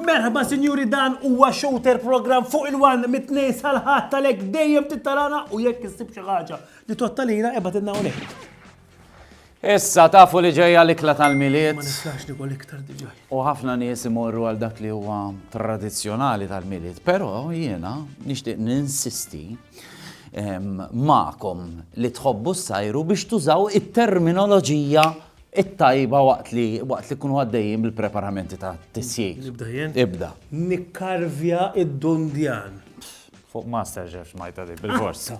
Merħba sinjuri dan huwa shooter program fuq il-wan mit-tnej sal-ħadd tal-ek dejjem tittarana u jekk issib xi ħaġa li tottalina ebgħad inna hawnhekk. Issa tafu li ġejja l-ikla tal-Milied. Ma nistax nikol iktar diġà. U ħafna nies imorru għal dak li huwa tradizzjonali tal-Milied, però jiena nixtieq ninsisti ma'kom li tħobbu s-sajru biex tużaw it-terminoloġija it-tajba waqt li waqt li kunu għaddejjin bil-preparamenti ta' tisjir. Nibda jien? Ibda. Nikkarvja id-dundjan. Fuq master ġefx majta li bil-forsa.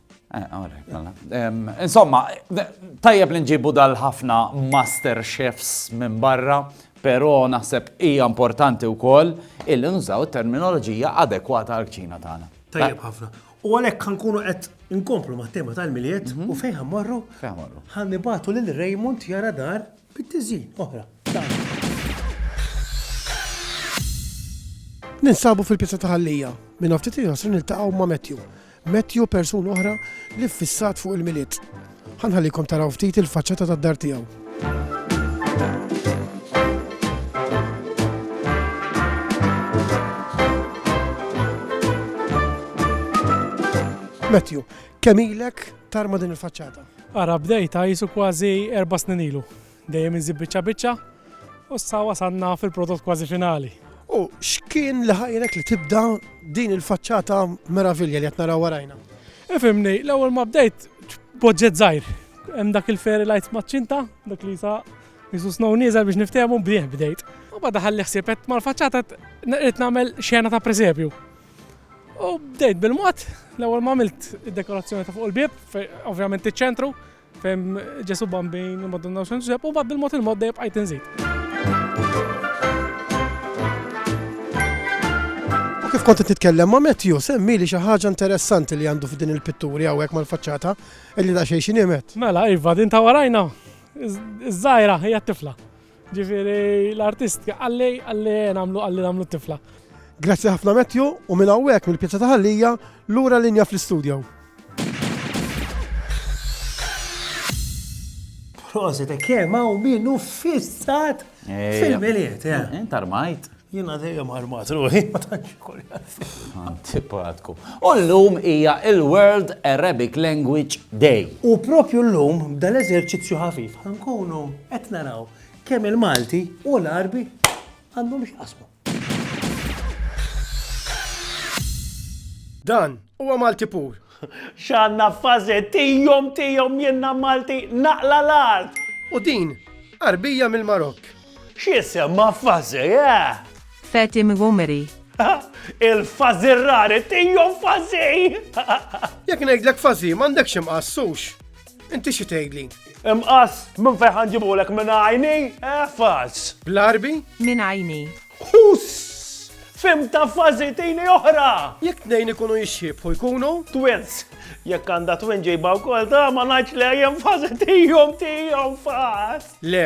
Eh, Insomma, tajjeb li nġibu dal-ħafna master chefs minn barra, pero naħseb hija importanti wkoll il nużaw terminoloġija adekwata għal kċina tagħna. Tajjeb ħafna. U għalhekk ħankunu qed inkomplu ma' tema tal-miliet mhm. u fejn ħammorru? Fejn ħammorru. Ħannibatu lil Raymond jara dar bit-tiżin oħra. Ninsabu fil-pizza taħallija, minn ftit il-ħasrin il-taqaw ma' Matthew Matthew u persuna oħra li ffissat fuq il-Milied. Ħa nħallikom taraw ftit il-faċċata tad-dar tiegħu. Matthew, kemm ilek tarma din il-faċċata? Ara bdejta jisu kważi erba' snin ilu. Dejjem inżid biċċa biċċa u issa wasalna fil-prodott kważi finali. U x'kien li ħajrek li tibda din il-faċċata meravilja li qed naraw warajna? Ifimni, l-ewwel ma bdejt boġġet żgħir. Hemm dak il-fairy lights maċ-ċinta, dak li sa jisu snow nieżel biex niftehmu bdieħ bdejt. U bada ħalli ħsieb qed mal-faċċata qed nagħmel xena ta' presepju. U bdejt bil-mod, l-ewwel ma għamilt id-dekorazzjoni ta' fuq il-bieb, fe- ovvjament iċ-ċentru, Fem Ġesu Bambin, il-Madonna u Xanġeb, u bad bil-mod il-mod dejjem bqajt inżid. U kif kont titkellem ma' Matthew, semmi li xi ħaġa interessanti li għandu f'din il-pitturi hawnhekk mal-faċċata illi da xejn xi Mela, iva, din ta' warajna, iż-żgħira hija tifla. Ġifieri l-artist qalli qalli nagħmlu qalli nagħmlu t-tifla. Grazzi ħafna Matthew u minn hawnhekk mill-pjazza ta' Ħallija lura linja fl-istudju. Prosit, kemm hawn min uffissat fil-miliet. Intarmajt. Jiena dejjem armat ruħi, ma tantx Antipatku. U llum hija il-World Arabic Language Day. U propju llum b'dan eżerċizzju ħafif ħankunu qed naraw kemm il-Malti u l-Arbi għandhom x'qasmu. Dan huwa Malti pur. X'għandna fażi tijom tijom jenna Malti naqla l-art. U din, arbija mill-Marokk. X'jisemma fażi, eh? Fatim Ghumeri. Il-fażirrari tiegħu fażi! Jekk ngħidlek fażi m'għandekx imqass sux. Inti xi tgħidli? Imqass minn fejn ħanġibulek minn għajni, eh faż. Bl-arbi? Minn għajni. Huss! fim ta' fazi tini oħra. Jek tnejn ikunu jixxibħu jkunu? Twins. Jek għanda twin ġejba u kol ta' ma naċ li jem fazi tijom tijom faz. Le,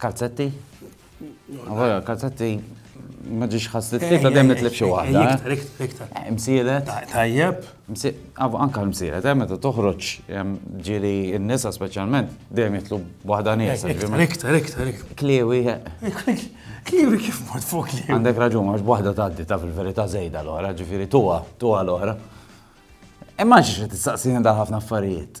Kalzetti? Għavara, kalzetti ma ġiġ ħas li t-tlieta dem nitlib xi waħda. Msielet? Tajjeb. Anka l-msielet, eh, meta toħroġ ġiri n-nisa specialment, dem jitlu waħda nisa. Iktar, iktar, iktar. Kliwi. Eh. Kliwi kif mod fuq kliwi. Għandek raġun, għax waħda taddi ta' fil-verita zejda l-ora, ġifiri tuwa, tuwa l-ora. Imma ġiġ t-saqsini da ħafna affarijiet.